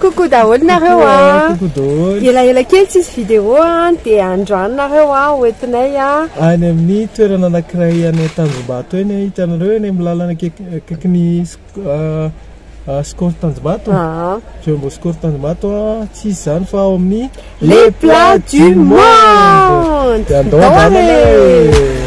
Coucou daholo nareo a! Ela ela kely tsisy vidéo a, dia androany nareo a ho entinay a! Any amin'ny toerana anakiray any Tanjombato eny a, hitanareo eny amin'ny lalana akaikin'ny Score Tanjombato? Jumbo Score Tanjombato a, tsy iza izany fa ao amin'ny Les plats du monde! Dia andao handramana e!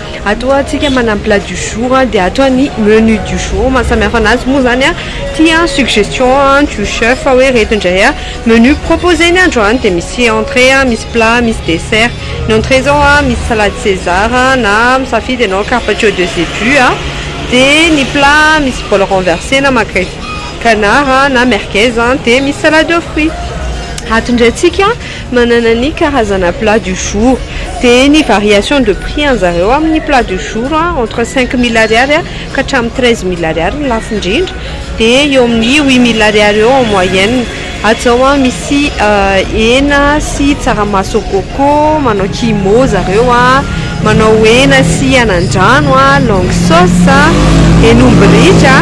Atoa antsika manana ny plat du jour dia atoa ny menu du jour, maha samy hafa anazy moa izany ity an, suggestion an, du chef hoe ireto indray an, menu propose ny androany dia misy entrée an, misy plat, misy dessert, ny entrée zao an misy salade César an na misafidy ianao carpaccio de zébu an, dia ny plat an misy bol renversé na magret canard an na merguez an dia misy salade de fruits. Ato indray antsika. Manana ny karazana plat du jour, dia ny variation de prix anjareo amin'ny plat du jour entre cinq mille ariary ka hatramin'ny treize mille ariary ny lafo indrindra, dia eo amin'ny huit mille ariary eo en moyenne. Ato izao misy hena sy tsaramaso au coco, manao kimo zareo, manao hena sy anandrano, longue sauce, henomby ritra,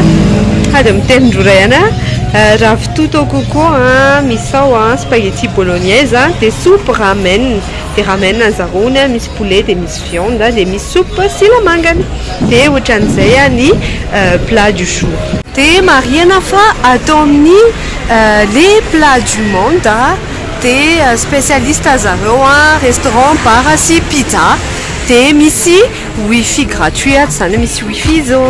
sady mitelin-drora ihany. Tutto cuoco an, misao an, spaghetti bolognaise an, dia soupe ramen, dia ramen anzaraony an, misy poulet dia misy viande an, dia misy soupe silamangany, dia ohatran'izay ny plat du jour. Dia marihana fa atao amin'ny le plat du monde dia specialiste zareo an, restaurant, bar sy pizza, dia misy wifi gratuit ato, izany hoe misy wifi izy ô.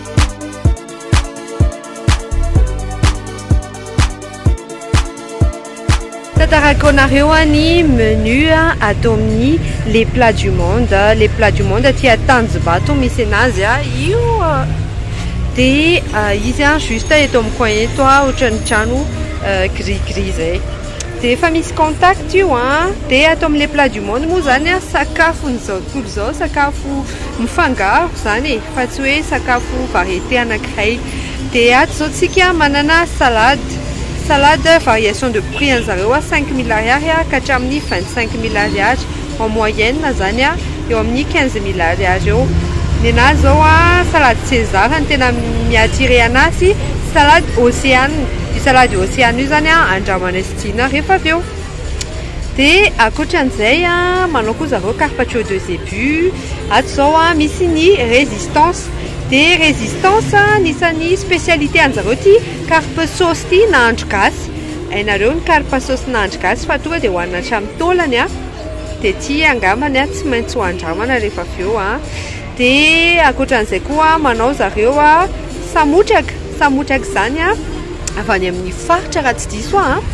Tantarako anareo ny menu ato amin'ny les plats du monde. Les plats du monde aty Tanjombato misy anazy. Io dia izy juste eto amin'ny coin eto ohatran'ny trano gris gris izay. Dia efa misy contact io dia ato amin'ny les plats du monde moa izany sakafon'izao tontolo izao sakafo. Mifangaro izany e, fa tsy hoe sakafo variété anankiray. Dia ato izao tsika manana salade, salade variation de prix an'zareo cinq mille ariary ka hatramin'ny vingt cinq mille ariary, en moyenne izany eo amin'ny quinze mille ariary eo. Ny anahy izao salade César no tena mi-attirer anahy sy salade Océan, io salade Océan io izany andramanay sy Dina rehefa avy eo. Dia ankoatran'izay manao koa zareo carpaccio de zebu, ato izao misy ny resistance, dia resistance anisan'ny spécialité an-jareo ity carpe sauce ity nahandro gasy, hainareo ny carpe sauce nahandro gasy fa tonga dia hohanina hatramin'ny taolany an! dia ity angambany an tsy maintsy ho andramana rehefa avy eo an! dia ankoatran'izay koa manao zareo samotraka, samotraka izany an! avy any amin'ny faritra raha tsy diso aho an,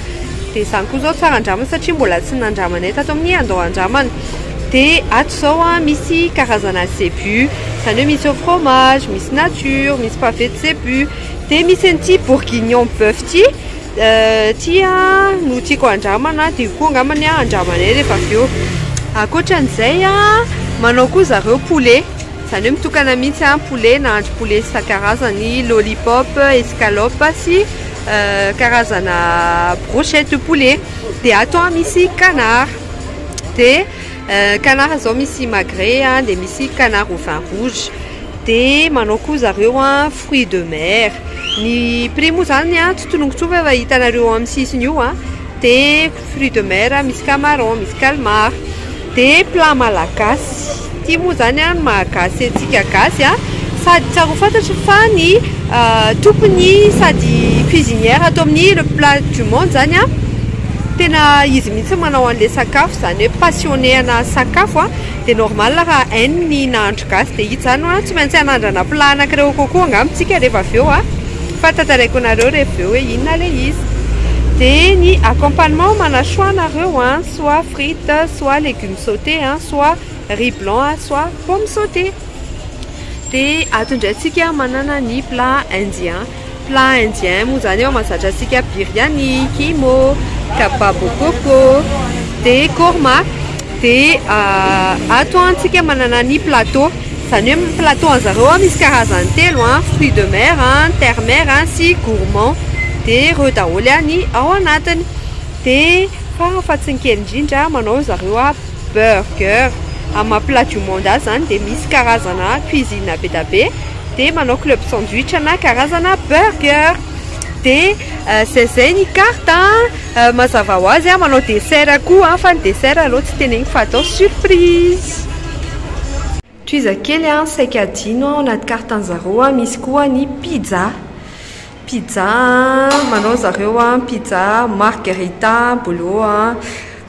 dia izany koa izao tsara andramana satria mbola tsy nandramanay tato amin'ny andao andramana, dia ato izao an misy karazana zebu, izany hoe misy au fromage, misy nature, misy pavé de zebu, dia misy an'ity bourguignon boeuf ity, ity an no tiako handramana dia io koa angambany andramanay rehefa avy eo, ankoatra an'izay an manao koa zareo poulet. Izany hoe mitokana mihitsy an, poulet, nahandro poulet isan-karazany, lollipop, escalope sy karazana brochette de poulet. Dia ato an misy canard, dia canard izao misy magret an, dia misy canard au vin rouge. Dia manao koa zareo an fruits de mer. Ny prix moa izany an tsy tononiko intsony fa efa hitanareo eo amin'ny sisiny io an. Fruits de mer, misy camarons, misy calmars. Dia plat malagasy. Ity moa izany no maha-gasy antsika gasy a! Sady tsara ho fantatro fa ny tompony sady cuisinière ato amin'ny Le Plat du Monde izany a, tena izy mihitsy no manao an'ilay sakafo, izany hoe passionné ana sakafo a! Dia normal raha hainy ny nahandro gasy, dia izy izany ho'a tsy maintsy hanandrana plat anankiray au concours angamba isika rehefa avy eo a! Fa tantaraiko anareo reveo hoe inona le izy. De ny accompagnement mana choix nareo an, soit frites, soit legumes sautés an, soit riz blanc an, soit pomme sautée. De ato ndray tsika manana ny plat indien. Plat indien moa zany eo mazatra antsika biryani, kimo, kababo coco, de korma. De ato an tsika manana ny plateau. Izany hoe amin'ny plateau anzareo ao misy karazany telo an, fruits de mer an, ny terre mer an sy gourmand dia ireo daholo ihany ny ao anatiny dia fara fahatsiny kely indrindra manao ry zareo an burger amin'ny maha plat du monde azy izany dia misy karazana cuisine be dia be dia manao club sandwich ana karazana burger. Dia izay izay ny carte an! Mazava ho azy aho manao dessert koa an! Fa ny dessert aleo tsy teneniko fa atao surprise! Tohiza kely an! Saika adino an! Ao anaty carte an'i zareo an! Misy koa ny pizza! Pizza an! Manao ry zareo an! Pizza margherita, bolo an!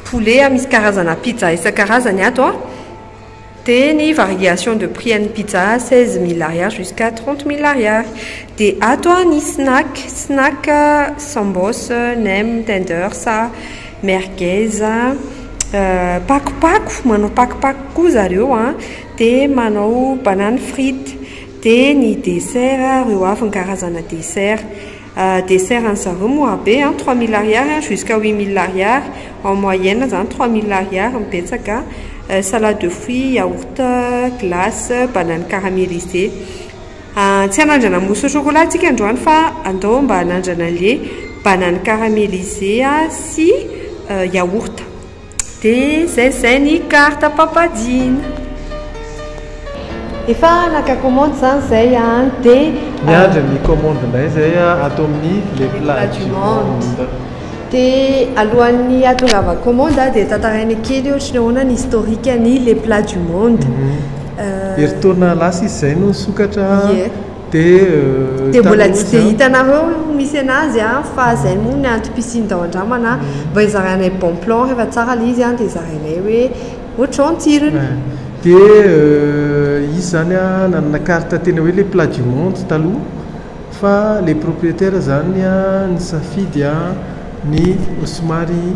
Poulet an! Misy karazana pizza isan-karazany ato an! Dia ny variation de prix an'ny pizza seize mille ariary jusqu'à trente mille ariary. Dia ato ny snack, snack sambos, nem, tenders, merguez, pakopako, manao pakopako koa zareo an, dia manao banane frite. Dia ny dessert ireo avy ny karazana dessert. Dessert an'i zareo mora be an, trois mille ariary an jusqu'à huit mille ariary en moyenne zany trois mille ariary no betsaka an, salade de fruits, yaourt, glace, banane caramélisée. Tsy hanandrana mousse au chocolat antsika androany fa andao mba hanandrana an'ilay banane caramélisée sy yaourt. Dia izay izay ny carte Papa Jina. Efa naka commande izany izay an! Dia. Miandry ny commande indray izay ato amin'ny les plats du monde. Dia alohan'ny hahatongavako commande an, dia tantaraina kely ohatra ny ahoana ny historique an'ny les plats du monde. Herintaona lasa izy izay no nisokatra. Ie. Dia mbola tsy dia hitanareo misy anazy a, fa zay moa ny anto piscine tao andramana a, mba hizarainay bon plan rehefa tsara le izy a, dia zarainay hoe ohatrizao ny tsirony. Dia izy zany a nanana carte tena hoe le plat du monde taloha, fa le proprietaire zany a nisafidy a ny somary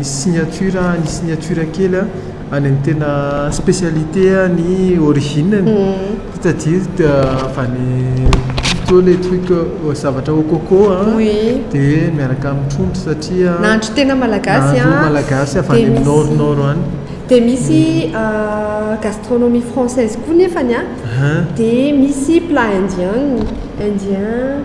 signature a ny signature kely a, any amin'ny tena spécialité ny origine-ny c'est-à-dire avy any plutôt les trucs zavatra au coco an dia miaraka amin'ny trondro satria nahandro tena malagasy an, nahandro malagasy avy any amin'ny nord nord any, dia misy gastronomie française koa nefany an, dia misy plat indien, indien,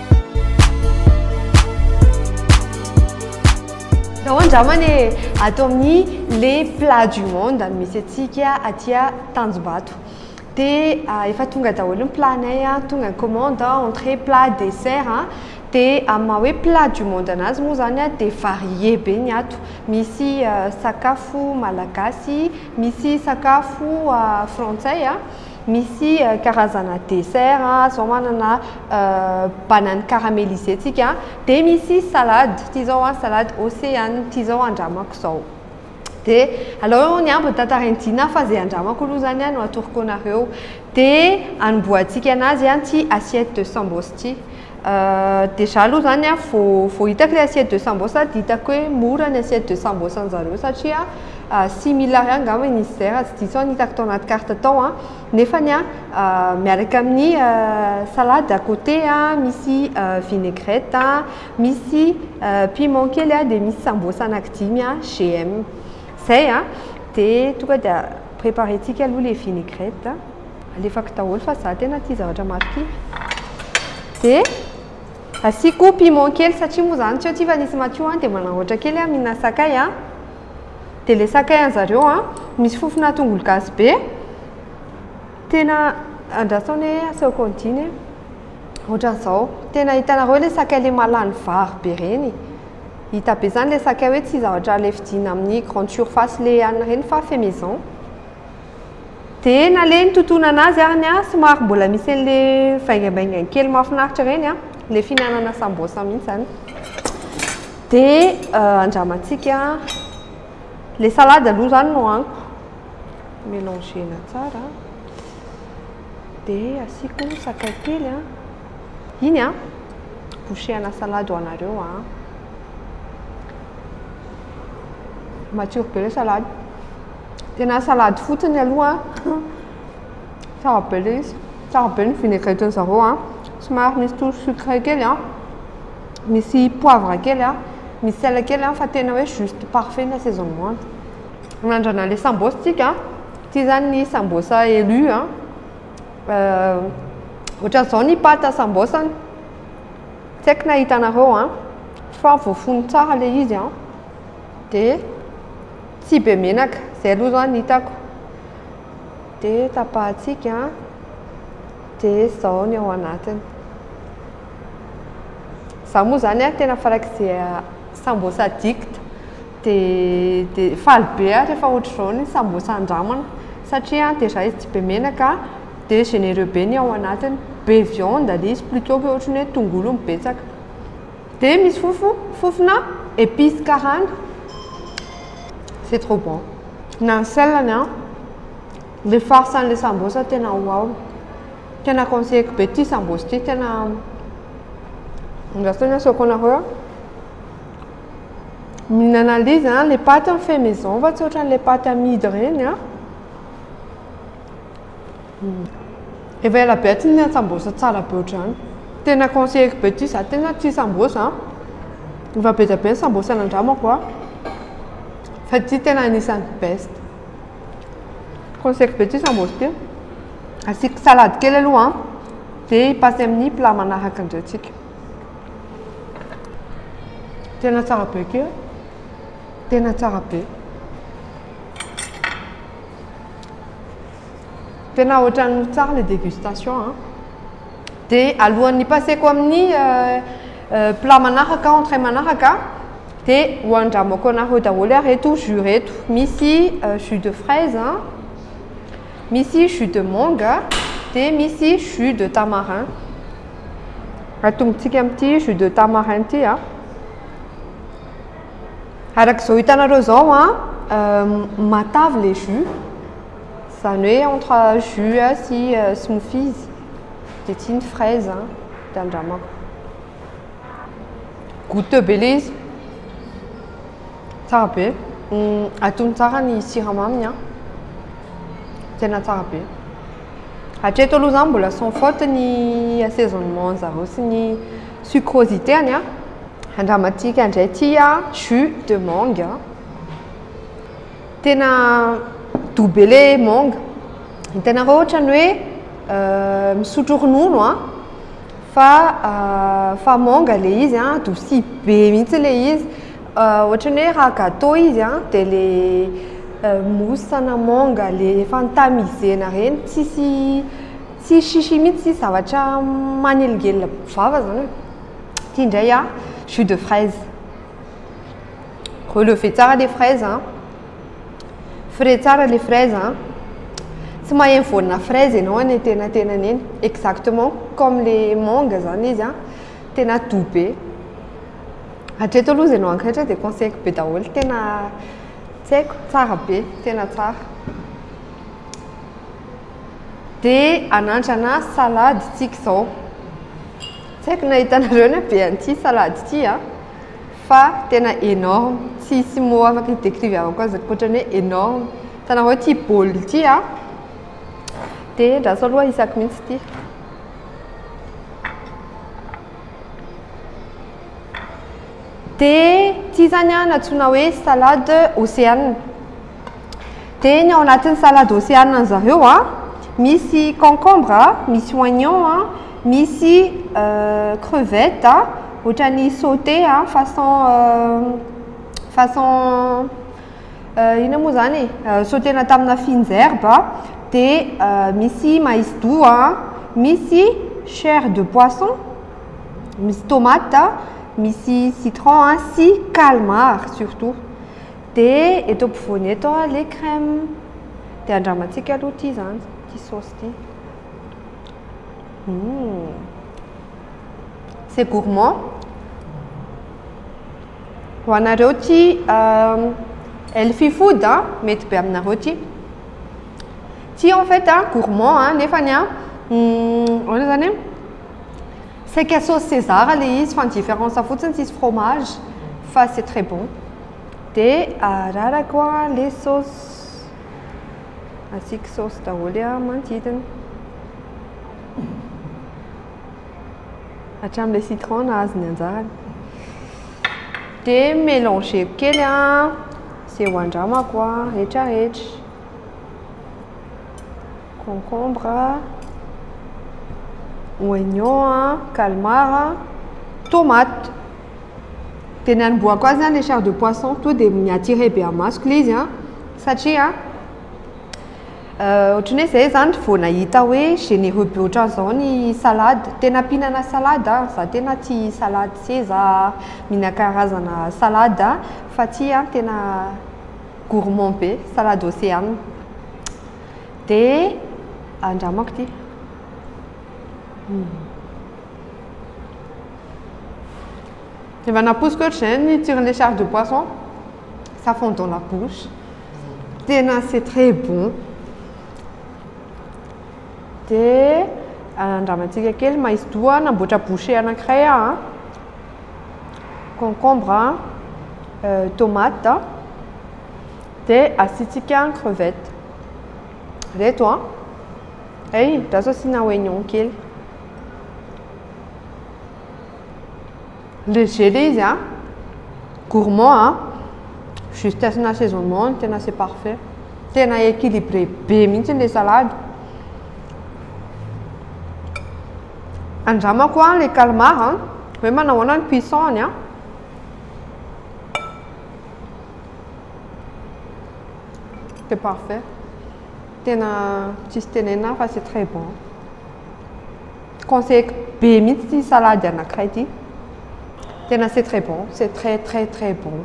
Zao andramana e, ato amin'ny le plat du monde no misy antsika aty Tanjombato. Dia efa tonga daholo ny plat-nay, tonga ny commande, entrée, plat, dessert. Dia amin'ny maha hoe plat du monde anazy moa izany dia varié be ny ato. Misy sakafo malagasy, misy sakafo frantsay. Misy karazana dessert a, zao manana banane caramelisée tsika, dia misy salade, ity zao a salade océan, ity zao andramako zao. Dia aleo ny ambiny tantarain'i Dina fa zay andramako aloha zany a no atoroko anareo. Dia anombohantsika anazy an ity assiette de sambos ity. Déjà aloha zany a vao vao hitako ilay assiette de sambosa dia hitako hoe mora ny assiette de sambosa anjareo satria six mille ariary angamba izy izay raha tsy diso aho ny hitako tao anaty carte tao a, nefany a miaraka amin'ny salade à côté a, misy vinaigrette a, misy piment kely a, dia misy sambosa anaky dimy a GM. Zay a, dia tonga dia préparer-tsika aloha ilay vinaigrette. Alefako daholo fa za tena tia zavatra marikivy. Dia asiako piment kely satria moa zany tsy eo tsy fa nisy matio an dia manahoatra kely aho mihinana sakay an. Dia ilay sakay an zareo an misy fofona tongolo gasy be. Tena andraso anie asao continue e. Ohatran'izao. Tena hitanareo ilay sakay ilay mahalany vary be ireny. Hita be izany ilay sakay hoe tsy zavatra alefidiana amin'ny grande surface ilay any ireny fa fait maison. Dia nalehiny totonana azy ary ny ahy somary mbola misy an'ilay vaingambaingany kely mahafinaritra ireny an, ilay fihinanana sambosa mihitsy izany. Dia andramantsika ilay salady aloha izany no haniko. Mélanger-na tsara. Dia asiako sakay kely an. Iny an, boucher-na salady ho anareo an. Matsiro be ilay salady. Tena salade fotsiny aloha an. Tsara be ilay izy. Tsara be ny vinaigrette-ny zareo an. Somary misy toa sucre kely an. Misy poivre kely an. Misy sel kely an fa tena hoe juste parfait ny assaisonnement. Anandrana ilay sambos tsika. Ity izany ny sambos elu an. Ohatran'izao ny pâte sambos-ny. Tsy haiko na hitanareo an. Fa voafono tsara ilay izy an. Dia Tsy be menaka, zay aloha zao ny hitako. Dia tapahantsika, dia zao ny ao anatiny. Za moa zany a, tena farak'izay sambos addict, dia faly be aho rehefa ohatr'izao ny sambos andramana, satria déjà izy tsy be menaka, dia généreux be ny ao anatiny, be viande le izy, plutôt que ohatry ny hoe tongolo no betsaka. Dia misy fofo, fofona épices karana. C'est trop bon. Na ny sel-ny an. Ilay farce an'ilay sambosa tena wow. Tena conseilleko be ity sambosa ity, tena andrasana ny asehoako anareo. Mihinana an'ilay izy an, ilay paty an fait maison fa tsy ohatran'ilay paty amidy ireny an. Efa ela be tsy nihinana sambosa tsara be ohatr'izany. Tena conseilleko be ity za tena tia sambosa an. Efa be dia be ny sambosa nandramako an. Fa ity tena anisan'ny best. Conseilleko be ity sambosa ity. Asiako salade kely aloha an. Dia i passe amin'ny plat manaraka indray tsika. Tena tsara be ity an. Tena tsara be. Tena ohatran'ny tsara le dégustation an! Dia alohan'ny hipaseko amin'ny plat manaraka, entrée manaraka, dia ho andramako anareo daholo ary reto jus reto. Misy jus de fraise, misy jus de manga, dia misy jus de tamarin. Atombotsika amin'ity jus de tamarin ity an! Araka izao hitanareo izao an, matavy le jus. Izany hoe entre jus sy smoothies dia tsy ny fraise an, dia andramako. Goûteux be ilay izy. Tsara be. Atony tsara ny siramaminy an. Tena tsara be. Hatreto aloha izany mbola sans faute ny assaisonnement an'zareo sy ny sucrosité-ny an. Andramantsika indray ity an, jus de mangue. Tena doux be le manga. Hitanareo ohatrany hoe euh, misotro ronono an, fa euh, fa manga le izy an, douci be mihitsy le izy. Euh, ohatrany hoe raha gâteau izy an, dia le euh, mousse na manga le efa notamisena reny, tsisy tsisy chichi mihitsy, tsisy zavatra manelingelina vava zany. Ty ndray an, jus de fraise. Relevez tsara les fraises an. Frais tsara les fraises an. Tsy maheno voanina fraise ianao any antenatenany eny. Exactement comme les mangues zany izy an. Tena doux be. Hatreto aloha izay nohankaitra dia conseil-ko be daholo tena tsy haiko tsara be, tena tsara. Dia anandrana salady tsika izao. Tsy haiko nahitanareo ny habean'ity salady ity an. Fa tena enorme, tsy hisy mot afaka hi-decrive-avako azy ankoatran'ny hoe enorme. Hitanareo ity bol ity a, dia andraso aloha hisako mihitsy ity. Dia ity izany a, nantsoina hoe salade ocean. Dia ny ao anatin'ny salade océane an'i zareo a, misy concombre, misy oignon a, misy crevette a, ohatran'ny sauté a, façon façon inona moa izany e, sautena tamina fines herbes, dia misy mais doux a, misy chair de poisson, misy tomate, misy citron sy calmar surtout. Dia eto ampovoany eto a le crème dia andramantsika aloha ity zany ity sauce ity. Hum. C'est gourmand. Ho anareo ity euh, healthy food a, mety be aminareo ity. Ity en fait a gourmand a nefa ny a hum, ahoana zany e? Saika sauce César le izy fa ny différence fotsiny tsisy fromage fa c'est très bon. De ararako le sauce. Asiako sauce daholo manodidina. Hatramin'ilay citron nahazo ny anjarany. De mélangeko kely an, izay ho andramako rehetra rehetra. concombre a, oignon a, calmar a, tomate. Dia ny hanombohako azy zany le chair de poisson, tonga dia mi-attirer be masoko ilay izy an, satria ohatry ny hoe zay zany vao nahita hoe généreux be ohatran'izao ny salade, tena mpihinana salade aho, za tena tia salade se za mihinana karazana salade an, fa tia an, tena gourmand be, salade ocean. Dia andramako ity. Hmm. Efa naposiko ohatr'izay ny tsiron'ilay char de poisson. Ça fond dans la bouche. Tena c'est très bon. Dia andramantsika kely mais doha namboatra bouchée anankiray aho. Concombre, euh, tomate. Dia asiantsika ny crevette. Ireto an. Hay, andraso asiana oignon kely. Léger ilay izy an. Gourmand an. Juste asiana assaisonnement no tena c'est parfait. Tena équilibré be mihitsy ilay salade. Andramako an ilay calmar an. Hoe manahoana ny cuisson-ny an. C'est parfait. Tena tsisy tenenina afa c'est très bon. Conseilleko be mihitsy ity salady anankiray ity. Tena c'est très bon, c'est très très très bon.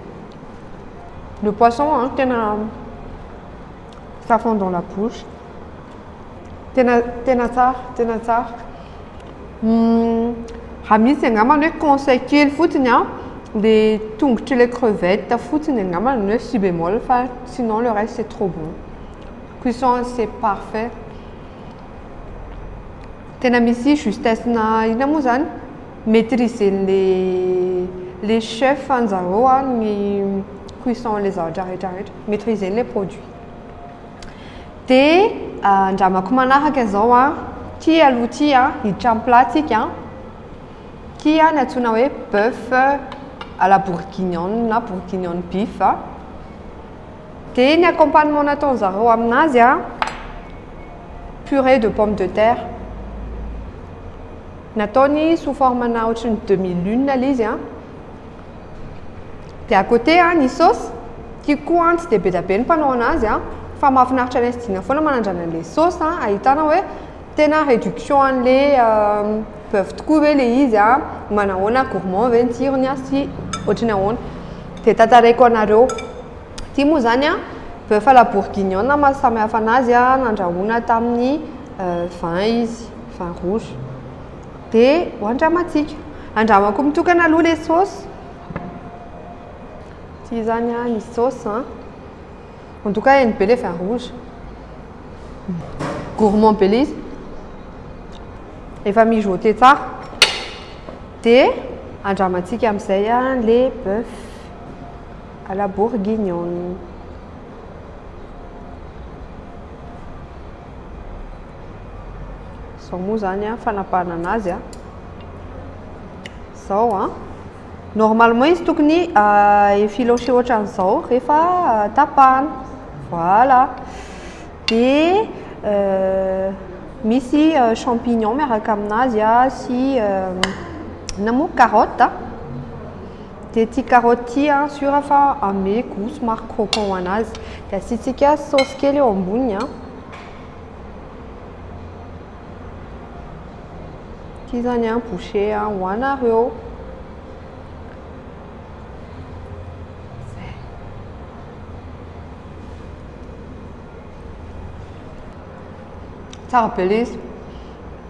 Le poisson an tena ça fond dans la bouche tena tena tsara tena tsara hmm, raha misy angambany hoe conseil kely fotsiny an le tongotry le crevette fotsiny angambany ny hoe si bémol fa sinon le reste c'est trop bon cuisson c'est parfait tena misy justesse na ina moa zany maîtriser le le chef anjareo a ny cuisson le zavatra rehetra rehetra maîtriser les produits de andramako manaraka zao a ty aloha ty a hiditra am plat tsika ty a ny atsona hoe boeuf à la bourguignonne na bourguignonne beef de ny accompagnement nataony zareo aminazy a purée de pomme de terre nataony sous forme na ohatry ny demi lune le izy a Dia à côté an, ny saosy, tiako koa an, tsy dia be dia be ny mpanao anazy an, fa mahafinaritra ny SDINA foana manandrana an'ilay saosy an, ahitana hoe tena réduction an'ilay boeuf tokoa ve ilay izy an, manahoana, gourmand ve ny tsirony an, sy ohatra ny ahoana. Dia tantaraiko anareo. Ity moa izany an, boeuf à la bourguignonne no maha samy hafa anazy an, nandrahoina tamin'ny vin izy, vin rouge. dia ho andramantsika. Andramako mitokana aloha ilay saosy. Tsy izany ah, ny saosy an. Mandoka hainy be ilay vin rouge. Gourmand be ilay izy. Efa mijoter tsara. Dia andramantsika amin'izay ilay bœuf à la bourguignonne. Izao moa izany an, fanapahanana azy an. Izao an. Normalement izy tokony euh, effiloché ohatran'izao rehefa euh, tapahana. Voilà. Dia euh, misy champignon miaraka aminazy sy na moa carotte. Dia ity carotte ity an, sur fa ame gout somary croquant ho anazy. Dia asiantsika saosy kely eo amboniny an. Ity izany an, boucher an, ho anareo. Tsara be ilay izy.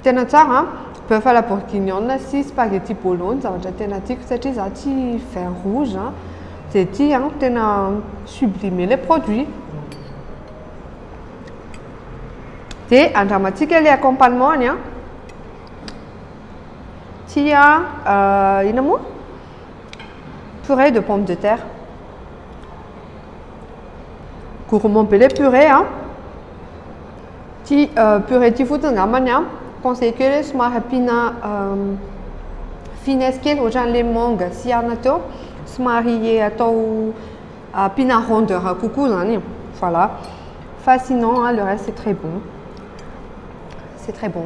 Tena tsara an! Boeuf à la bourguignonne sy spaghetti bolo ny zavatra tena tiako satria za tsy vin rouge an! Dia ity an! Tena sublime le produit! Dia andramantsika le accompagnement-ny an! Tia euh, inona moa? Purée de pomme de terre. Gourmand be le purée an! Ity purée ity fotsiny angambany an, conseil kely hoe somary ampiana finesse kely ohatran'ilay manga sy anana teo, somary atao ampiana rondeur kokoa izany e, voilà. Fa sinon an le reste c'est très bon, c'est très bon,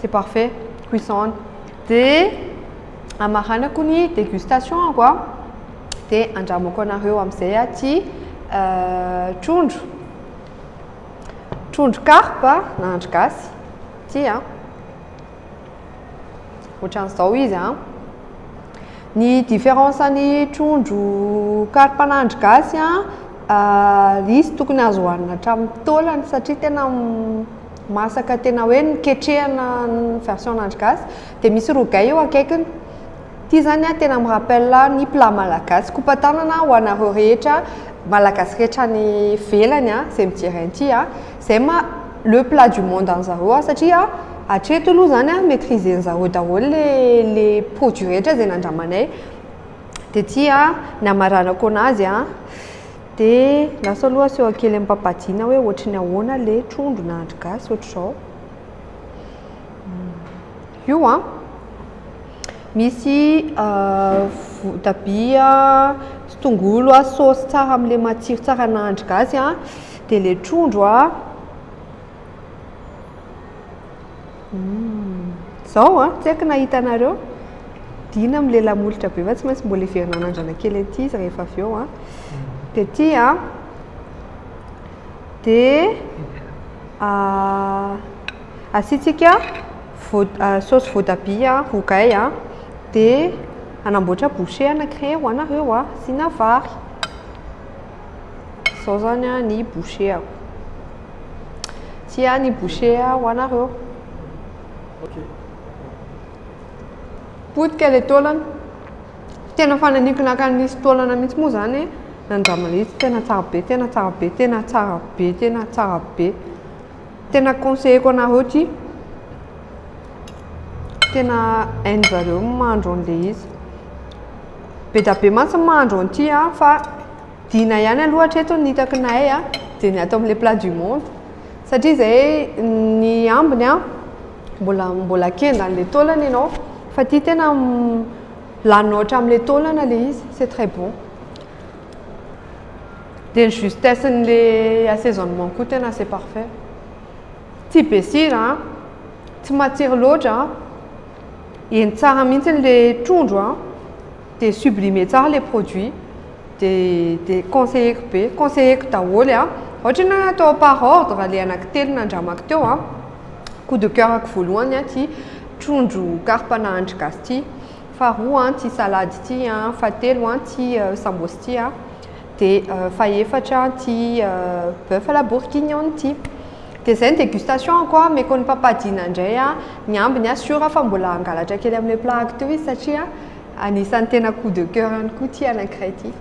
c'est parfait, cuisson. Dia hamaranako ny dégustation-ko an, dia handramako anareo amin'izay aty trondro. Trondro karpa na andry gasy. Ity a. Ohatran'izao izy a. Ny différence ny trondro karpa na andry gasy a, euh, izy tokony azo hohanina hatramin'ny taolany satria tena masaka tena hoe noketrehana ny version an'andry gasy dia misy rogay eo akaikiny. Ty zany a tena mi rappel ny plat malagasy, kopatanana ho anareo rehetra malagasy rehetra any ivelany a, zay mijery an'ity a, zay ma le plat du monde an'zareo a, satria hatreto aloha zany a maitriser an'zareo daholo le le produit rehetra zay nandramanay, de ty a ny amaranako anazy a, de lasa aloha asehoko kely ampampadiana hoe ohatry ny ahoana le trondro nahandro gasy ohatr'izao. Io an! Misy votabia, tongolo, saosy tsara amin'ilay matsiro tsara nahandro gasy an! Dia ilay trondro an! Izao an! Tsy haiko na hitanareo? Dina amin'ilay lamolotra be fa tsy maintsy mbola heverina hanandrana kely aty izy rehefa avy eo an! Dia aty an! Dia Asiantsika saosy voatabia rogay a, dia hanamboatra bouchée anankiray ho anareo a, asiana vary. Izao izany a ny bouchée-ako. Ity a ny bouchée ho anareo. Potika ilay taolana. Tena fananiko naka nisy taolana mihitsy moa izany e, nandraman'ilay izy tena tsara be, tena tsara be, tena tsara be, tena tsara be. Tena conseilleko anareo ty. Tena hain'zareo ny mahandro an'ilay izy. Be dia be mantsy ny mahandro an'ity an, fa dina ihany aloha hatreto ny hitako nahay an, dia ny ato amin'ilay plat du monde. Satria izay ny ambiny an, mbola mbola kenda an'ilay taolana ianao, fa ity tena lanina hatramin'ilay taolana ilay izy, c'est très bon. Dia ny justesse n'le assaisonnement koa tena assez parfait. Tsy be sira an, tsy matsiro loatra an, eny tsara mihitsy n'le trondro an, dia sublime tsara le produit, dia dia conseilleko be, conseilleko daholo an, ohatra enao hoe atao par ordre le anaky telo nandramako teo an, coup de coeur-ko voalohany an ty trondro karpa nahandro gasy ty, faharoa an ity salady ity an, fahatelo an ity sambos ity an, dia fahefatra an ity boeuf à la bourguignonne ity. Dia izay ny dégustation ko an, omeko ny papa Dina indray an, ny ambiny an sûr aho fa mbola hangalatra kely amin'ilay plat-ko ity izy satria anisan'ny tena coup de coeur any koa ity anankiray ity.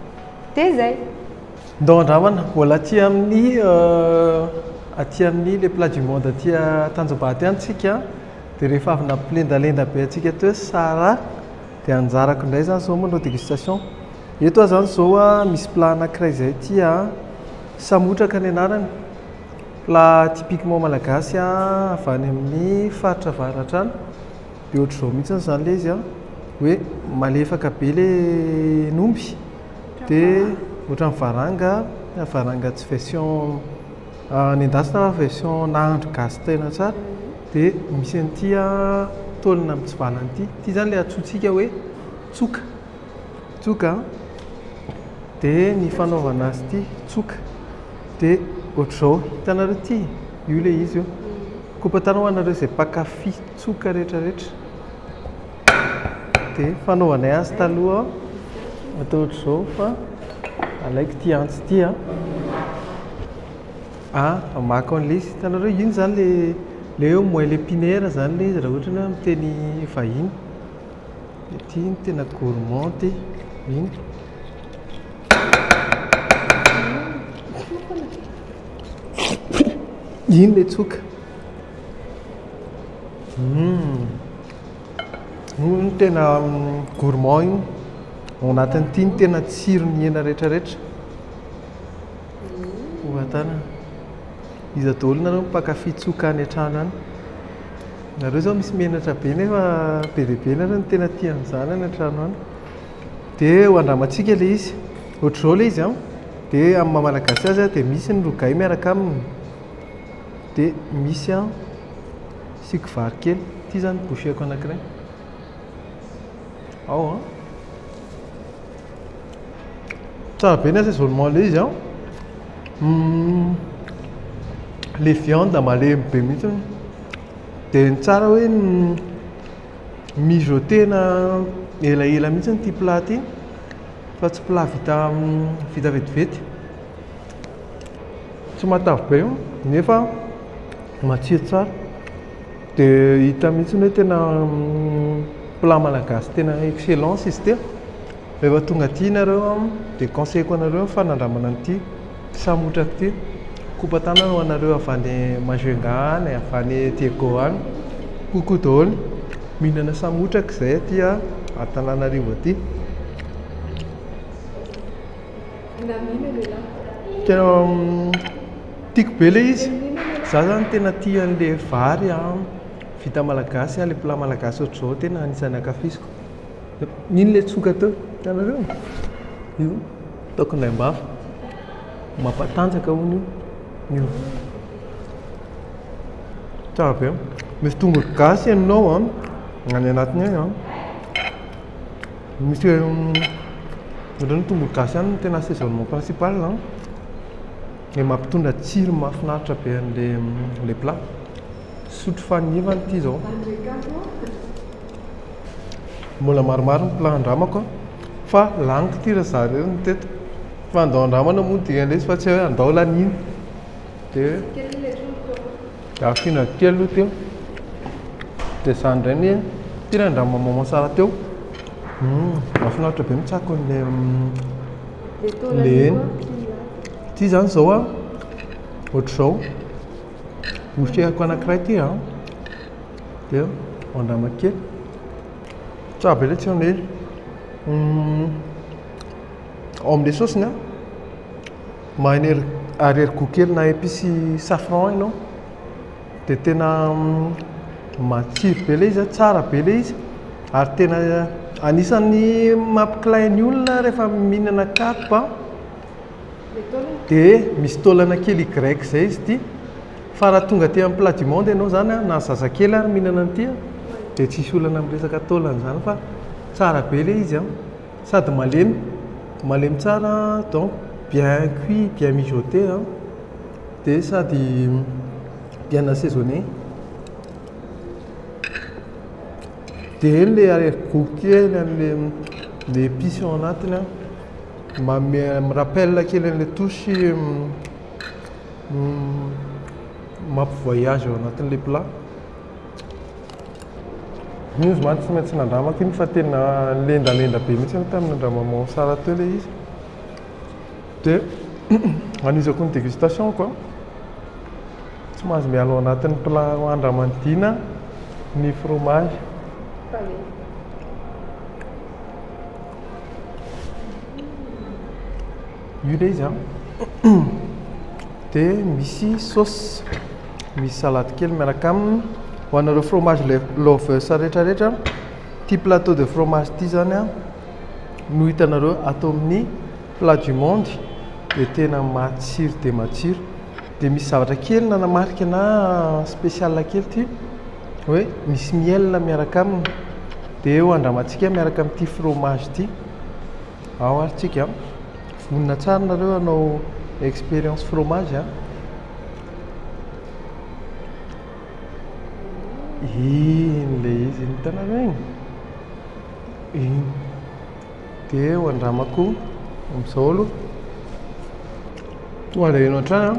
Dia izay. Ndao handramana, mbola aty amin'ny aty amin'ny le plat du monde aty Tanjombato ihany tsika an. Dia rehefa avy nampilendalenda be antsika teo Sarah dia anjarako indray izany izao manao dégustation. Eto aho izany izao misy plat anankiray izay tia an, samotraka ny anarany, plat typiquement malagasy avy any amin'ny faritra avaratra any, dia ohatr'izao mihitsy izany ilay izy an, hoe malefaka be ilay hen'omby dia ohatran'ny varanga, varanga tsy version. Nendasina version nahandro gasy tena tsara dia misy an'ity tolona mitsivalana ity, ity izany ilay antsointsika hoe tsoka, tsoka an, dia ny fanaovana azy ity tsoka dia ohatr'izao, hitanareo ity? Io ilay izy io, kopatanao ho anareo izay mpankafy tsoka rehetra rehetra. dia fanaovanay azy taloha atao ohatr'izao fa alaiko ity antsy ity a a amako an'le izy hitanareo iny zany le le hoe moins le piner zany le izy raha ohatra ny hoe amin'ny teny vahiny ity no tena gourmand ity iny iny le tsoka Io no tena gourmand io. Ao anatin'ity ny tena tsiron'ny hena rehetra rehetra. Hovatanana. Iza daholo nareo mpankafy tsoka any an-trano any. Nareo zao misy menatra be nefa be dia be nareo no tena tia an'izany any an-trano any. Dia ho andramantsika ilay izy. Ohatr'izao ilay izy an, dia amin'ny maha malagasy azy dia misy ny rogay miaraka aminy, dia misy an. Asiako vary kely. Ity izany ny bouchée-ko anankiray. Ao an! Tsara be ny assaisonnement ilay izy an! Ilay viande malemy be mihitsy an! Dia ny tsara hoe mijoter-na elaela mihitsy ity plat ity fa tsy plat vita vita vetivety. tsy matavy be nefa matsiro tsara dia hita mihitsy hoe tena plat malagasy tena excellence izy ity, rehefa tonga aty nareo dia conseil-ko anareo ny fanandramana an'ity samy otraka ity, kopa tanana ho anareo avy any Majunga any, avy any Diego any, koko daholo, mihinana samy otraka izahay aty Antananarivo aty. Tena tiako be ilay izy. Izaho izany tena tia an'ilay vary vita malagasy, ilay plat malagasy ohatr'izao tena anisan'ny ankafiziko. Iny ilay tsoka teo, hitanareo? Io, ataoko indraim-bava. Mampatanjaka hono io. Tsara be. Misy tongolo gasy henonao any anatiny any. Misy ohatran'ny tongolo gasy ihany no tena assaisonnement principal a, dia mampitondra tsiro mahafinaritra be an'ilay plat. Sotro faneva ity izao. Mbola maromaro ny plat andramako fa laniko ity ry zareo no teto. Fa andao andramana moa dia indray izy fa tsy hoe andao laniana. Dia Afina ny kely aloha teo. Dia izany indray anie, ity ilay andramo maman tsara teo. Hmm, mahafinaritra be mitsako an'ilay hmm, le hena. Ity izany izao a, ohatr'izao. Noserako anankiray ity a. Dia andramo kely. Tsara be ilay tsiron'ilay izy. Hmm, ao amin'ilay saosiny a. Maheno ery ariarigout kely na epice safran ianao de tena matsiro be le izy a, tsara be le izy ary tena anisan'ny mampikilay ny olona rehefa mihinana karp a, de misy taolana kely y zay izy ity, fa raha tonga aty amin'ny plat du monde ianao zany a, na zazakely ary mihinana an'ity a, de tsisy olana amin'ny resaka taolana zany fa tsara be le izy a. Sady malemy, malemy tsara donc bien cuit, bien mijoté an, dia sady bien assaisonné, dia eny ilay arrière gout kely an'ilay epices ao anatiny an, manome mi rappelle kely an'ilay touche mampi-voyage ao anatin'ilay plat. Io izy mantsy tsy maintsy nandramako iny fa tena lendalenda be mihitsy aloha tamin'ny nandramanao Sara teo ilay izy. Dia anizako ny dégustation-ko an, tsy mahazo miala ao anatin'ny plat handramanidina ny fromazy. Io ilay izy an. Dia misy sauce, misy salade kely miaraka aminy. Ho anareo fromage lovers rehetrarehetra, ity plateau de fromage ity zany an no hitanareo ato amin'ny plat du monde dia tena matsiro dia matsiro. Dia misy zavatra kely nanamarika ana spécial kely ity hoe misy miel miaraka aminy. Dia eo andramantsika miaraka amin'ity fromage ity. Ao ary tsika an! Vonona tsara nareo hanao expérience fromage an! Iny le izy iny hitanareo iny? Iny! Dia ho andramako amin'izao aloha. Toa alahelo hatrany an!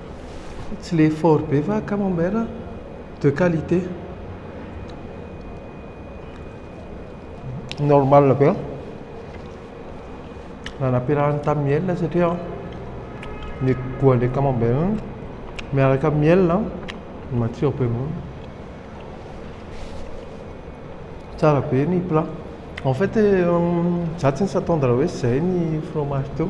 Tsy le fort be fa camembert de qualité. Normal be. Raha nampiarahana tamin'ny miel satria ny goût an'ilay camembert miaraka amin'ny miel no matsiro be. Tsara be ny plat. En fait, izaho tsy nisy attendre hoe izay ny fromage teo.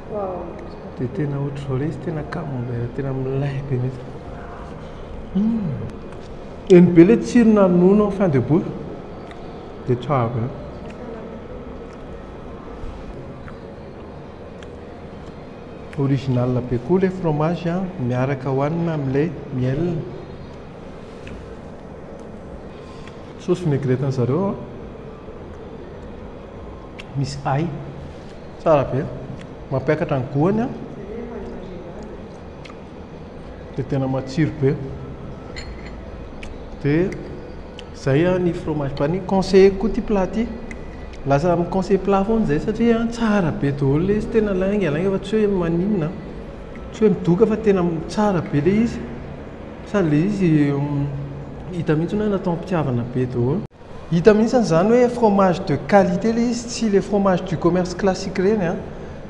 Dia tena ohatry izao ilay izy tena camembert tena milay be mihitsy. Eny be ilay tsiro nanonona ao fin de bouche. Dia tsara be. Original be koa ilay fromage a, miaraka hohanina amin'ilay miel. Saosy vinaigrette-n'izareo an. misy ahy. Tsara be. Mampiakatra ny goany an. Dia tena matsiro be. Dia zay an ny fromage banni. Conseilleko koa ity plat ity. Lasa mi conseille plat foana zay satria an tsara be daholo le izy. Tena lainga lainga fa tsy hoe maninona an. Tsy hoe midoka fa tena tsara be le izy. Sady le izy hita mihitsy hoe natao am-pitiavana be daholo. Hita mihitsy an zany hoe fromage de qualité le izy tsy le fromage du commerce classique reny an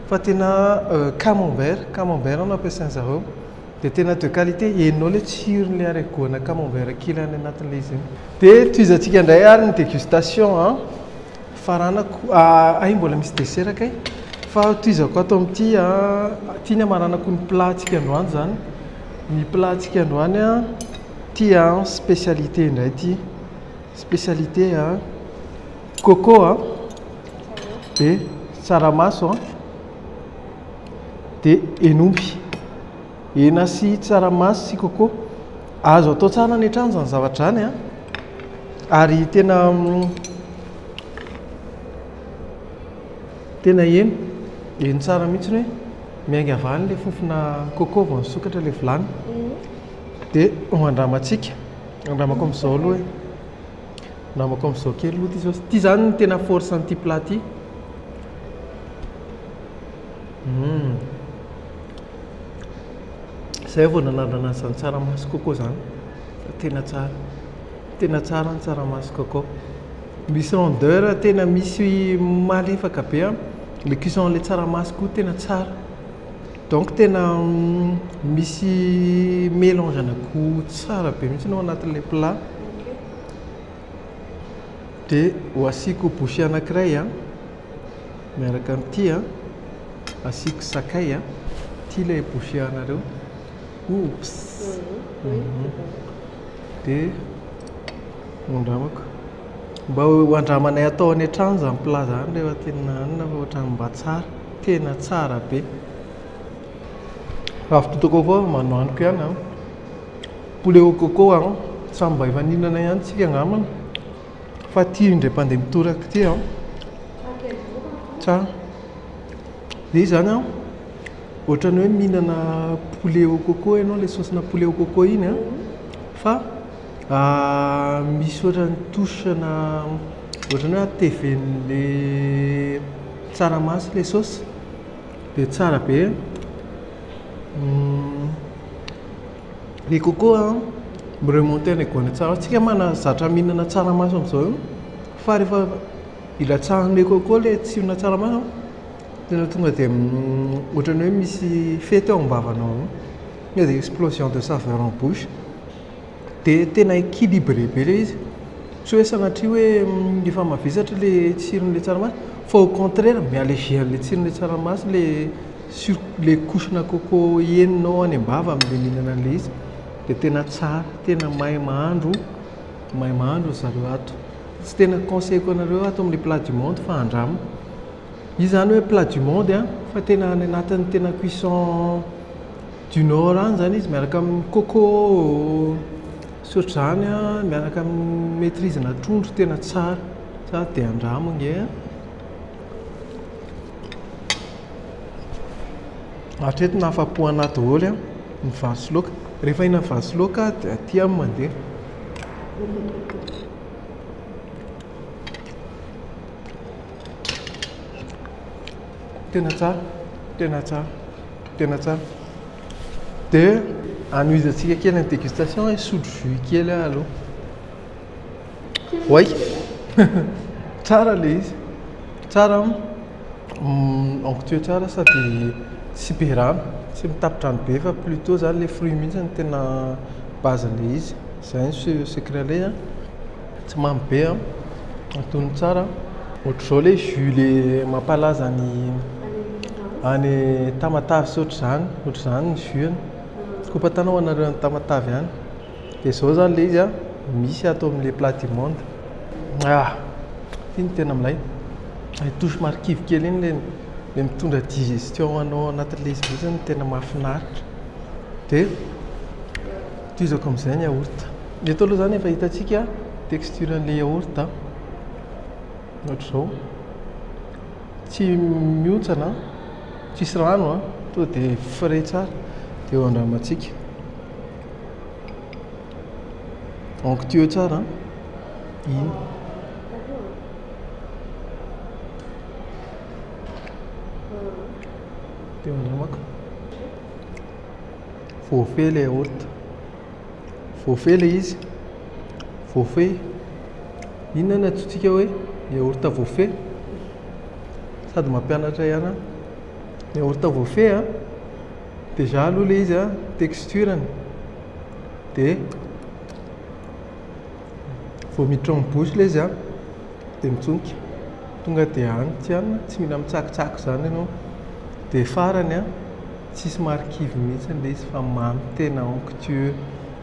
fa tena camembert camembert no ampiasain zareo de tena de qualité henonao le tsirony le ary goana camembert kely any anatin le izy iny. De tohizantsika ndray ary ny degustation an faranako ah hay mbola misy dessert kay fa tohizako ato amty an ty ny amaranako ny plat tsika androany zany ny plat tsika androany an ty an specialité ndray ty. Spécialité a coco a dia tsaramaso a dia hen'omby. Hena sy tsaramaso sy coco. Azo atao tsara any an-trano izany zavatra izany a. Ary tena tena heno, heno tsara mihitsy hoe miainga avy any ilay fofona coco vao nisokatra ilay vilany. Dia ho andramantsika. Andramako amzao aloha e. Andramako amzao kely aloha ty zao. Ty zany ny tena force an'ity plat ty. Hum. Zay vao nanandrana an'izany tsaramaso coco zany. Tena tsara. Tena tsara ny tsaramaso coco. Misy rondeur tena misy malefaka be an. Le cuisson an'ilay tsaramaso koa tena tsara. Donc tena misy melange ana gout tsara be mihitsy ao anatin'ilay plat. Dia ho asiako bouchée anankiray an, miaraka amin'ity an, asiako sakay an, ity ilay bouchée anareo, oups, dia andramako. Mba ho andramanay atao any an-trano izany plat izany rehefa te-hihinana hanina fa ohatran'ny mba tsara. Tena tsara be. Avy to toko koa manao aniko ihany an. Poulet au coco an. Samy mba efa nihinana ihany tsika angambany. Fa ity indray mpandeha mitoraka ity an. Tsara. Dia izany an. Ohatrany hoe mihinana poulet au coco ianao ilay saosina poulet au coco iny an. Fa ah, misy ohatrany touche-na ohatrany hoe ateven'ilay Tsaramaso ilay saosy dia tsara be. Ny coco an, mi-remonter an'ilay goût an'ilay tsaramaso. Isika moa mahazatra mihinana tsaramaso amin'izao io fa rehefa ilatsahan'ilay coco ilay tsironà tsaramaso an, tena tonga dia ohatran'ny hoe misy fety ao am-bavanao ao. Tonga dia explosion de saveur en bouche. dia tena équilibré be ilay izy, tsy hoe sanatria hoe efa mavesatra ilay tsiron'ilay tsaramaso fa au contraire mi allégé an'ilay tsiron'ilay tsaramaso ilay sur- ilay couche-na coco henonao any am-bava amin'ilay mihinana an'ilay izy, dia tena tsara, tena mahay mahandro, mahay mahandro ry zareo ato. Tsy tena conseil-ko anareo ato amin'ny plat du monde fa andramo. Izy izany hoe plat du monde an, fa tena any anatin'ny tena cuisson du nord any zany izy miaraka amin'ny coco sy ohatr'izany a, miaraka amin'ny maitrise ana trondro tena tsara, za de andramo nge a. Hatreto na afa-po ana daholo a, ny vary sy laoka, rehefa hihinana vary sy laoka aho de aty aho no mandeha. Tena tsara, tena tsara, tena tsara. Dia hanohizantsika kely ny dégustation hoe sotro jus kely aho aloha. Oay! Tsara ilay izy. Tsara an. Mm, onctueux tsara sady tsy be rano, tsy mitapin-drano be fa plutôt zany ilay fruit mihitsy no tena base-n'ilay izy. Izay no se- secret-n'ilay izy an. Tsy mamy be an! Atono tsara an! Ohatr'izao ilay jus le mampalaza any any Tamatave sy ohatr'izany, ohatr'izany ny jus-ny. Skopatanao ho anareo any Tamatave any. Dia izao izany ilay izy an, misy ato amin'ilay plat du monde. Ah! Ity no tena milay. Ilay touche somary kivy kely iny, ilay ilay mitondra digestion ho anao anatin'ilay izy mihitsy no tena mahafinaritra. Dia. Tohizako amin'izay ny yaourt. Ny eto aloha izany efa hitantsika texture an'ilay yaourt. Ohatra izao. Tsy mihontsana, tsisy rano, tonga dia frais tsara. Dia eo andramantsika. Onctueux tsara. Iny. Tem um drama Voafehy ilay aorta. Voafehy ilay izy. Voafehy. Inona no antsointsika hoe ny aorta voafehy? Sady mampianatra ihany aho. Ny aorta voafehy a, déjà aloha ilay izy a, texture-ny dia vao miditra ao amin'ny bouche ilay izy a, Dia mitsonika. Tonga dia any tsy an, tsy mila mitsakitsaky izany ianao. Dia farany an, tsisy marikivy mihitsy ilay izy fa mamy tena onctueux.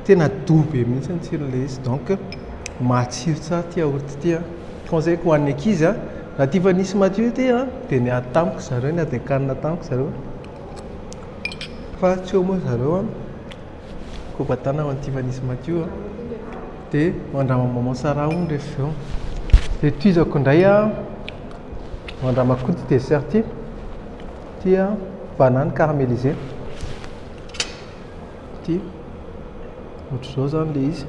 Tena doux be mihitsy ny tsiron'ilay izy. Donc matsiro tsara ity yaourt ity an. Conseil-ko ho an'ny ankizy an, raha tia vanille madio ity an, dia niady tamiko ry zareo, niady an-kanina tamiko ry zareo. Fa tsy eo moa ry zareo an. Ko batana ho an'i Tivanisy Matio a! Dia ho an-dRama Maman Sara hono rehefa avy eo. Dia tohizako indray a, ho an-dRama Koto ity dessert ity. Ity a, banane caramélisée. Ity, ohatr'izao izany ilay izy.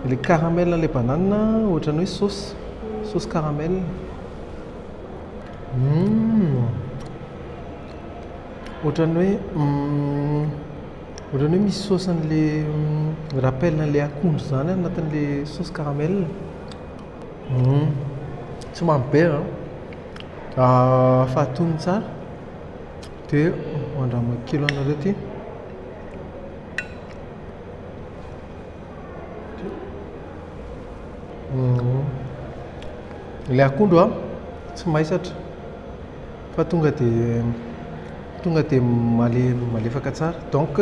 Ilay caramel an'ilay banane ohatran'ny hoe saosy, saosy caramel. Hum! Ohatran'ny hoe hum! Ohatrany hoe misy sauce an'le rappel an'le akondro zany anatin'le sauce caramel. Tsy mamy be a, fahatono tsara de mandramina kely anareo ty. Ilay akondro a tsy maisatra. fa tonga dia tonga dia malemy malefaka tsara donc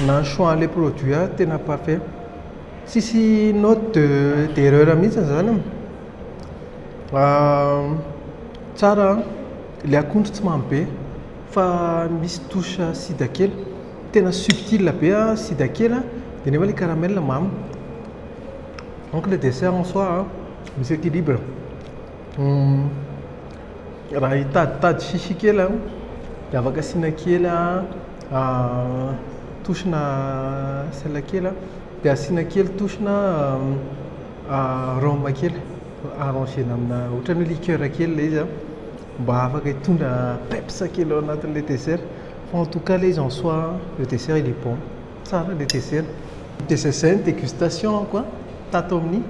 na ny choix le produit ary tena parfait tsisy note de d'erreur mihitsy zany e, tsara an, le akondro tsy mamy be fa misy touche sida kely, tena subtile be an sida kely an de nefa le caramel mamy, donc le dessert en soi misy equilibre. Raha hitaditady sisy kely aho dia afaka asiana kely tohina sel kely dia asiana kely tohina rhum kely arranger-na amina ohatran'ny hoe liqueur kely ilay izy mba afaka hitondra peps kely ao anatin'ilay dessert. Fa en tout cas ilay izy en soi le dessert il est bon. Tsara le dessert. Dia izay izay ny dégustation-ko an, tato amin'ny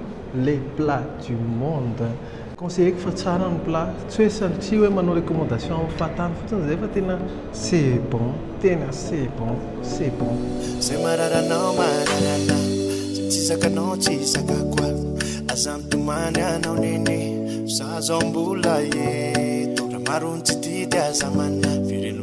les plats du monde. Conseiller-ko fa tsara ny plat, tsy hoe satria hoe manao recommandation amin'ny fahatany fotsiny izay fa tena c'est bon, tena c'est bon, c'est bon. Izay marary anao marary ana, izay tsy zakanao tsy zakako a, aza mitomany anao nene, fa za zao mbola eto, raha maro ny tsy tia dia aza manà, velom-.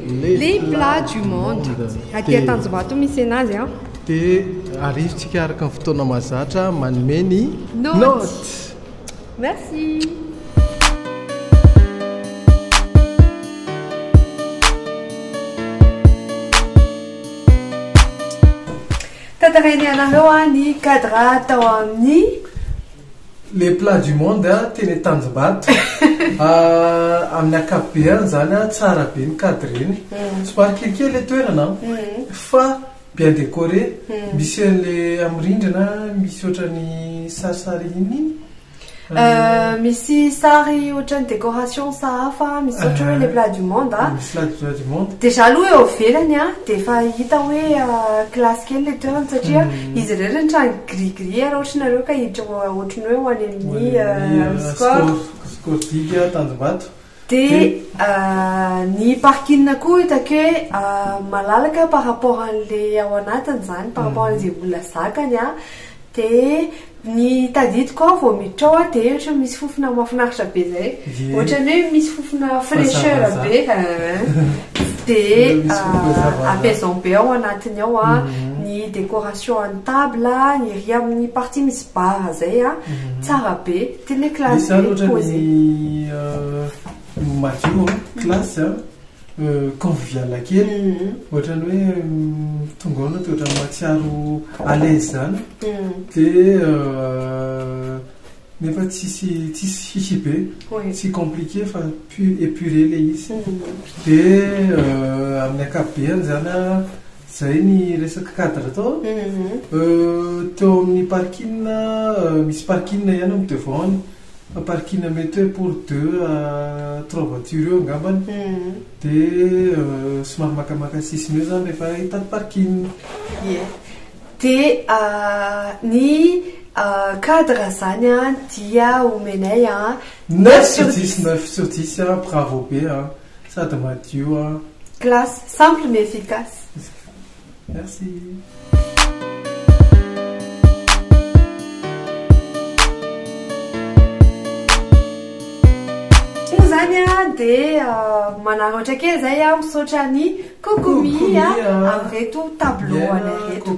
Les plats du monde. Aty Antanjombato misy enazy an. Dia arivotsika araka ny fotoana mahazatra manome ny notes. Merci. Tantarainay anareo ny cadre tao amin'ny. Le plat du monde a teny antanjombato ah amin'ny akapobeany izany ah tsara be ny cadreny somary kelikely le toerana fa bien decoré misy an'le amin'ny rindrina misy ohatran'ny sarisary inona iny Euh, misy sary ohatran'ny décoration sahafa misy ohatra hoe le plat du monde a misy la plat du monde déjà aloha eo ivelany a dia efa hita hoe classe kely le toerana satria izy irery ny trano Gris gris ary ohatry nareo ka hiditra ohatry ny hoe ho any amin'ny score. Score digue tanjombato. Dia ny parking koa hitako hoe malalaka par rapport an'ilay ao anatiny izany, par rapport an'izay olona zakany an. Dia ny tadidiko aho vao miditra ao dia ohatry ny misy fofona mahafinaritra be izay, ohatry ny hoe misy fofona fraicheur be dia apaisant be ao anatiny ao ny décoration. Table a, ery amin'ny partie misy barre zay a, tsara be, tena hoe classe be ny pose e. Madio an, classe an, convivial kely, ohatran'ny hoe tonga ao ianao dia ohatran'ny mahatsiaro à l'aise izany dia nefa tsisy tsisy chichi be, tsy compliqué fa pu- épuré ilay izy dia amin'ny ankapobeany izany an. Zay ny resaka cadre tao an! Teo amin'ny parking, misy parking ihany amin'ny devant any, fa parking mety hoe pour deux à trois voitures eo angamba, dia somary makamaka sisiny eo izany rehefa hitan'ny parking. Ie. Dia ny cadre izany an dia omenay an, neuf sur dix. Neuf sur dix, bravo be an! Sady madio an. Classe, simple mais efficace. Merci. dia manaratra kely izay aho misaotra ny kokomi amin'ireto tableau anay reto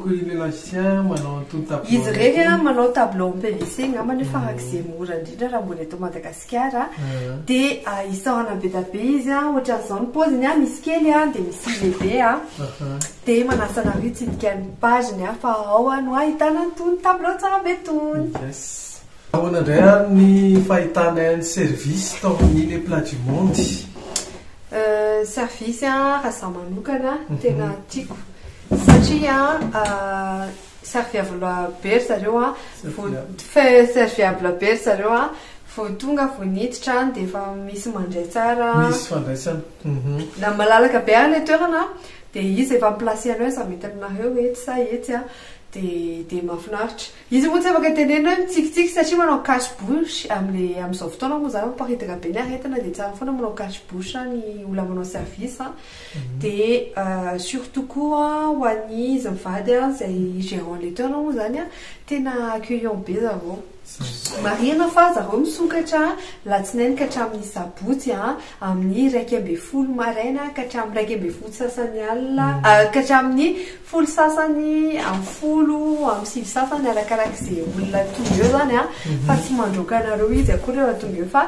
izy ireny manao tableau en pvc angamba nefa farak'izay mora indrindra raha mbola eto madagasikara Madagasikara dia isaorana be dia be izy a, ohatran'izao ny paoziny a, misy kely a, dia misy lehibe a, dia manasa anareo hitsidika ny page-ny a, fa ao no ahitana an'itony tableau tsara be itony. Ahoana indray ary ny fahitanay ny service tao amin'ny Les Plats du Monde? Service raha izaho manokana tena tiako satria serviable be ry zareo a, serviable be ry zareo a, vao tonga vao niditra any dia efa misy mandray tsara, misy fandraisana, na malalaka be ary ilay toerana dia izy efa mi-placer anao izy mety aminareo etsy sa etsy a, dia mahafinaritra, izy moa tsy afaka tenenina hoe mitsikitsiky satria manao cache bouche amin'ilay amin'izao fotoana moa izany miparitaka be ny aretina dia tsara foana manao cache bouche ny olona manao service a. Dia surtout koa ho an'ny izy mivady an, izay gérant laiteurs moa izany an, tena accueillant be zareo. Marihina fa zareo misokatra latsinainy ka hatramin'ny sabotsy an, amin'ny iraika ambin'ny folo maraina ka hatramin'ny iraika ambin'ny folo sasany alina, ka hatramin'ny folo sasany amin'ny folo amin'ny sivy sasany, arakarak'izay olona tonga eo izany an, fa tsy mandroaka anareo izy akory raha tonga eo fa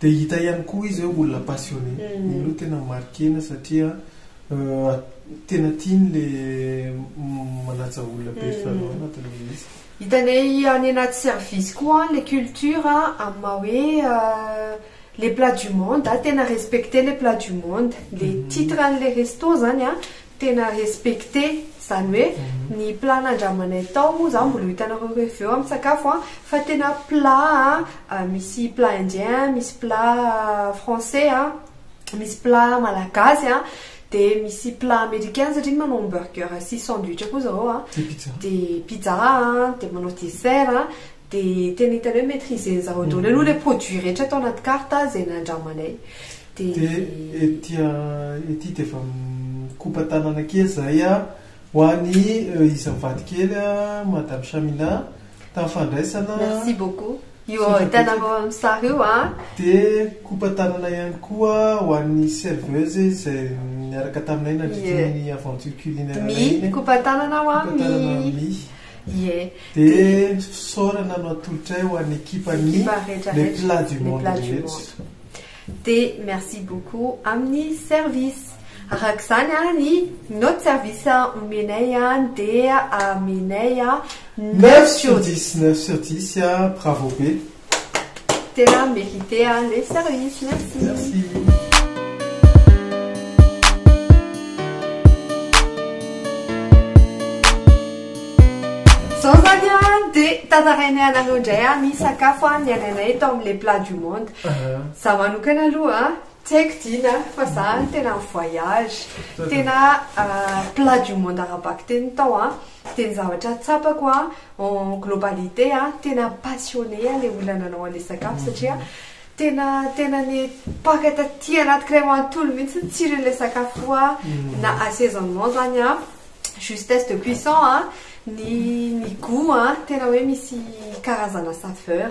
Dia hita ihany koa izy hoe olona passionné. Iny aloha tena marquer-na satria tena tiany ilay manaja olona be ry zareo ao anatin'ilay izy. Hitanay any anaty service koa ilay culture amin'ny maha hoe les plats du monde. Tena respecter ilay plat du monde. Ilay titre an'ilay resto izany. tena respecter izany hoe ny plat nandramanay tao moa za mbola ho hitanareo reveo amin'ny sakafo an, fa tena plat an misy plat indien, misy plat français an, misy plat malagasy an, dia misy plat americain satria manao hamburger sy sandwich koa zareo an, dia pizza an, dia manao dessert an, dia tena hitanay hoe maitriser-nizareo daholo aloha ilay produit rehetra tao anaty carte izay nandramanay. Dia ety ety dia efa mikopa tanana kely izahay a, ho an'i isan'ny vadikely a, Madame Chamina, tamin'ny fandraisana. Merci beaucoup. Io hitanareo amin'ny sary io a. Dia mikopa tanana ihany koa ho an'ny serveuse izay niaraka taminay nandritra ny aventure culinaire iny. Mia, mikopa tanana aho a, Mikopa tanana Mia. Mia. Ie. Dia fisaorana no atolotray ho an'ny ekipan'ny Ekipa rehetra rehetra. Les plats du monde rehetra. Dia merci beaucoup amin'ny service. Araka izany an ny note service omenay an dia amenay neuf sur dix. Neuf sur dix bravo be. Tena merite an le service. Merci. Merci. Zao zany an dia tantarainay anareo indray an ny sakafo an niainanay tao amin'ny le plat du monde. Za manokana aloha tsy haiko Dina fa za tena en voyage tena plat du monde ara-bakiteny tao an dia ny zavatra tsapako an en globalité an tena passionné an le olona nanao an'le sakafo satria tena tena nipaka taty anaty kiray manontolo mihitsy ny tsirin'le sakafo io an na assaisonnement zany an justesse de cuisson an ny ny gout an tena hoe misy karazana saveur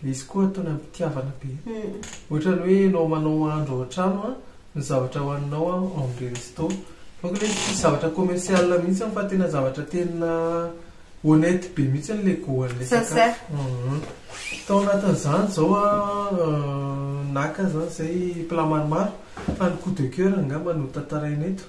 Ilay izy koa ataony amin'ny fitiavana be. Ohatrany hoe ianao manao mahandro ao an-trano an, ny zavatra hohaninao an en resto. Donc ilay izy tsisy zavatra commercial mihitsy fa tena zavatra tena honnête be mihitsy ilay goût an'ilay sakafo. Sincère. Tao anatin'izany izao an, naka zany izay plat maromaro fa ny coup de coeur angamba no tantaraina eto.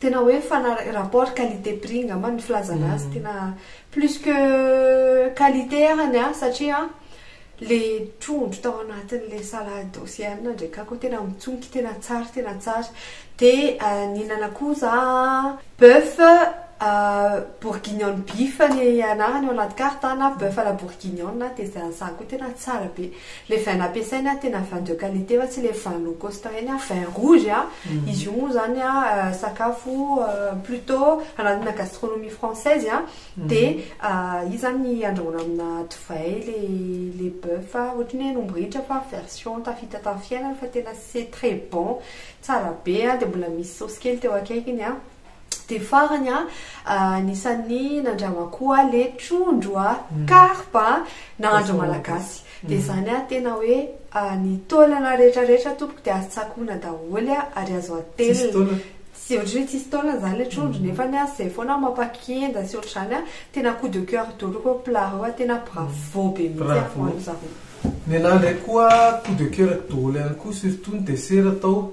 tena hoe mifanaraka rapport qualité prix angamba ny filazana azy mm. tena plus que qualité arany a satria le trondro tao anatin'le salade océane ndray kako tena mitsonky tena tsara tena tsara de euh, ninana koa za bœuf euh, bourguignon beef ny anarany ao anaty carte na bœuf à la bourguignon de za koa tena tsara be Le vin nampiasainy a tena vin de qualité fa tsy le vin locosta reny a, vin rouge a, izy io moa zany a sakafo plutot anatina gastronomie française a, de izy zany andrahoina amina divay le le boeuf a, ohatry ny hoe an'omby ritra fa version tafita tamin'ny fiainana fa tena c'est très bon, tsara be a, de mbola misy saosy kely teo akaikiny a. Dia farany an, anisan'ny nandramako an, le trondro an, carpe an, nahandro malagasy. Dia izany an, tena hoe ny taolana rehetra rehetra tompoko dia azo tsakoana daholo an, ary azo atelina. Tsisy taolana? Tsy, ohatra hoe tsisy taolana izany le trondro nefany an, izay foana no mampakienda sy ohatr'izany an, tena coup de coeur daholo ireo plat ireo an, tena bravo be mihitsy an ho an'izareo. Ny anahy indray koa coup de coeur daholo ihany koa, surtout ny dessert atao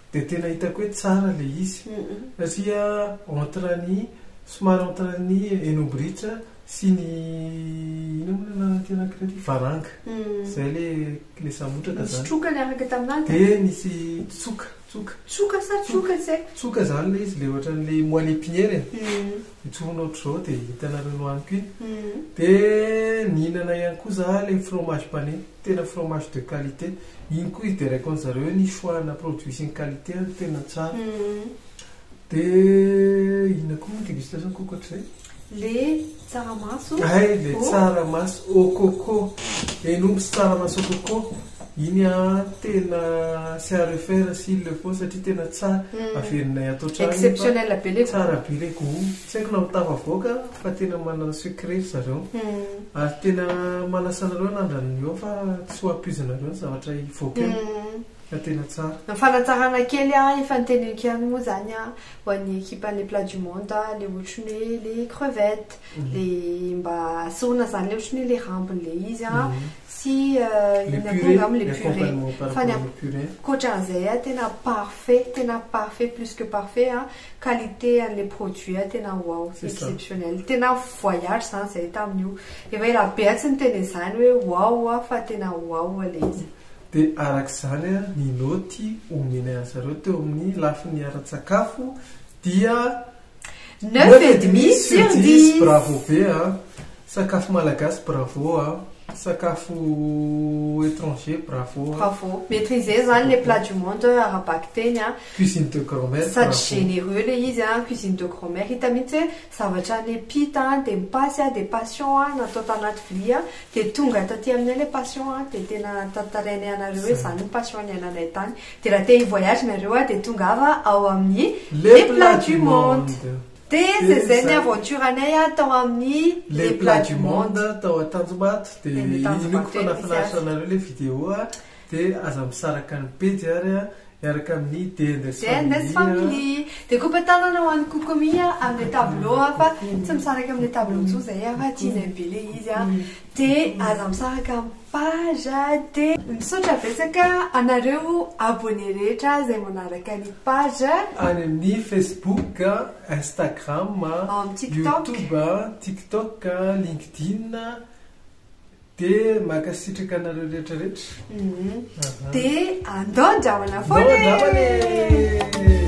Dia tena hitako hoe tsara ilay izy satria entre ny somary entre ny eno bridge sy ny inona moa ilay anaran'ity anankiray ity varanga izay ilay ilay samotraka izany nisy troka niaraka tamin'azy dia nisy tsoka tsoka tsoka sa tsoka tsy haiko tsoka izany ilay izy ilay ohatran'ilay moelle épinière e Intsony ohatr'izao dia hitanareo nohaniko iny. Dia nihinana ihany koa za ilay fromage pané, tena fromage de qualité. Iny koa izy dia raikon-dry zareo hoe ny choix ana produits sy ny qualité ary tena tsara. Dia inona koa moa ny dégustation-ko ankoatr'izay? Ilay tsaramaso au coco. Hay ilay tsaramaso au coco. Hen'omby sy tsaramaso au coco. Iny a tena tsy à refaire s'il le faut satria tena tsara, averinay ato an-trano iny fa Exceptionnel be le goût. tsara be le goût. Tsy haiko na ho tafavoaka fa tena manana secret ry zareo. Ary tena manasa anareo hanandrana ny eo fa tsy ho ampoizinareo ny zavatra hivoaka eo fa tena tsara. Ny fanatsarana kely a efa noteneniko ihany moa izany a ho an'ny ekipan'ny plat du monde a le ohatry ny hoe le crevette le mba sorona izany le ohatry ny hoe le rambony le izy a. Tsy inona koa angamba le purée fa ny ankoatran'izay a tena parfait tena parfait plus que parfait a qualité an'le produit a tena wow exceptionnel tena voyage zany zay tamin'io efa ela be a tsy niteny an'izany hoe wow a fa tena wow a le izy de arak'izany a ny naoty omena an'zareo teo amin'ny lafiny ara-tsakafo dia Neuf et demi sur dix. Bravo be a! Sakafo malagasy bravo a! Sakafo étranger bravo a! Bravo. Maîtriser zany le plat du monde ara-bakiteny a! Cuisine de grand mère bravo. Sady généreux le izy a! Cuisine de grand mère hita mihitsy hoe zavatra nepita a, dia mipasy a, dia passion a, natao tanaty vilia a, dia tonga taty aminay le passion a, dia tena tantarainay anareo hoe zany ny passion niainanay tany. Dia raha te hi-voyage nareo a, dia tongava ao amin'ny Les Plats du Monde. Dia zay zay ny aventure anay a tao amin'ny Les Plats du Monde tao Antanjombato. Dia Eny Antanjombato inoako fa eny misy nahafinaritra azy. anareo ilay video a, dia aza misaraka ny pejy ary a, miaraka amin'ny DNS DNS Family. Family. Dia kopa tanana ho an'i Kokomi a, amin'ilay tableau a, fa tsy misaraka amin'ilay tableau intsony zahay a, fa tianay be ilay izy a. De aza misaraka am page a de. Misaotra betsaka anareo abonné rehetra izay manaraka ny page. Any amin'ny Facebook, Instagram, YouTube, TikTok, LinkedIn, de mankasitraka anareo rehetra rehetra. De andao andramana foana e!